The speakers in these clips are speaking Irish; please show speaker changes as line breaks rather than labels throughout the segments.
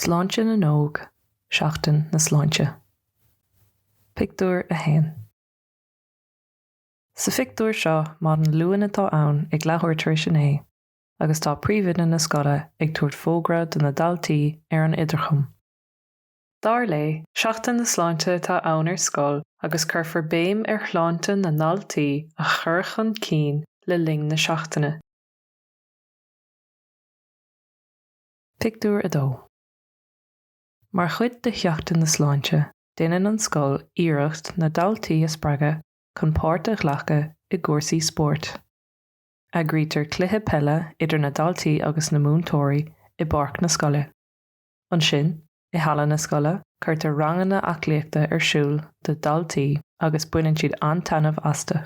Sláinte na nÓg, Seachtain na Sláinte. Pictiúr 1 Sa phictiúr seo maidin Luain atá ann ag leathuair tar éis a naoi agus tá príomhoide na scoile ag tabhairt fógra do na daltaí ar an idirchum. Dar léi, Seachtain na Sláinte atá ann ar scoil agus cuirfear béim ar shláinte na ndaltaí a chur chun cinn le linn na seachtaine. Pictiúr 2 Mar chuid de Sheachtain na Sláinte, déanann an scoil iarracht na daltaí a spreagadh chun páirt a ghlacadh i gcúrsaí spóirt. Eagraítear cluiche peile idir na daltaí agus na múinteoirí i bpáirc na scoile. Ansin, i halla na scoile, cuirtear ranganna aclaíochta ar siúl do dhaltaí agus baineann siad an-taitneamh astu.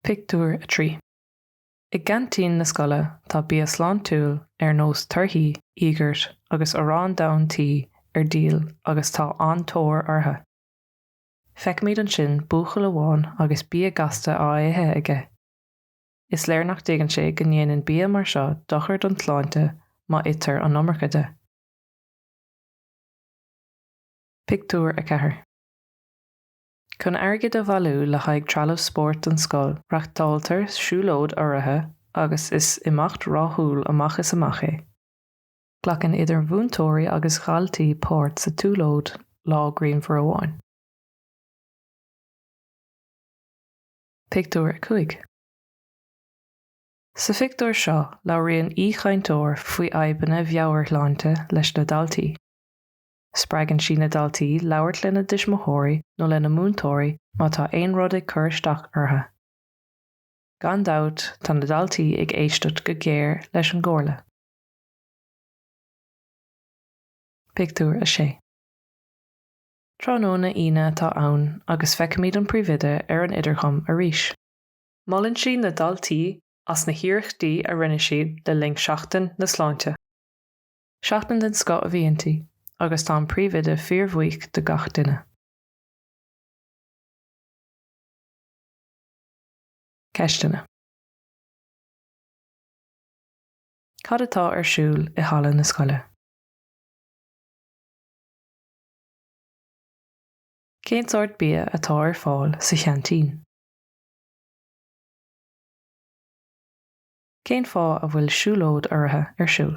Pictiúr 3. I gceaintín na scoile tá bia sláintiúil ar nós torthaí, íogart agus arán donn tí ar díol agus tá an-tóir orthu. Feicimid ansin buachaill amháin agus bia gasta á ithe aige. Is léir nach dtuigeann sé go ndéanann bia mar seo dochar don tsláinte má itear an iomarca de. Pictiúr 4 Chun airgead a bhailiú le haghaidh trealamh spóirt don scoil, reáchtáiltear siúlóid urraithe agus is imeacht rathúil amach is amach é. Glacann idir mhúinteoirí agus dhaltaí páirt sa tsiúlóid lá grianmhar amháin. Pictiúr 5 Sa phictiúr seo labhraíonn aoichainteoir faoi fhadhbanna mheabhairshláinte leis na daltaí. Spreagann sí na daltaí labhairt lena dtuismitheoirí nó lena múinteoirí má tá aon rud ag cur isteach orthu. Gan dabht tá na daltaí ag éisteacht go géar leis an gcomhairle. Pictiúr 6. Tráthnóna Aoine atá ann agus feicimid an Príomhoide ar an idirchum arís. Molann sí na daltaí as na hiarrachtaí a rinne siad le linn Seachtain na Sláinte. Seachtain den scoth a bhí inti agus tá an Príomhoide fíorbhuíoch de gach duine. Ceisteanna. Cad atá ar siúl i halla na scoile? Cén sórt bia atá ar fáil sa cheaintín? Cén fáth a bhfuil siúlóid urraithe ar siúl?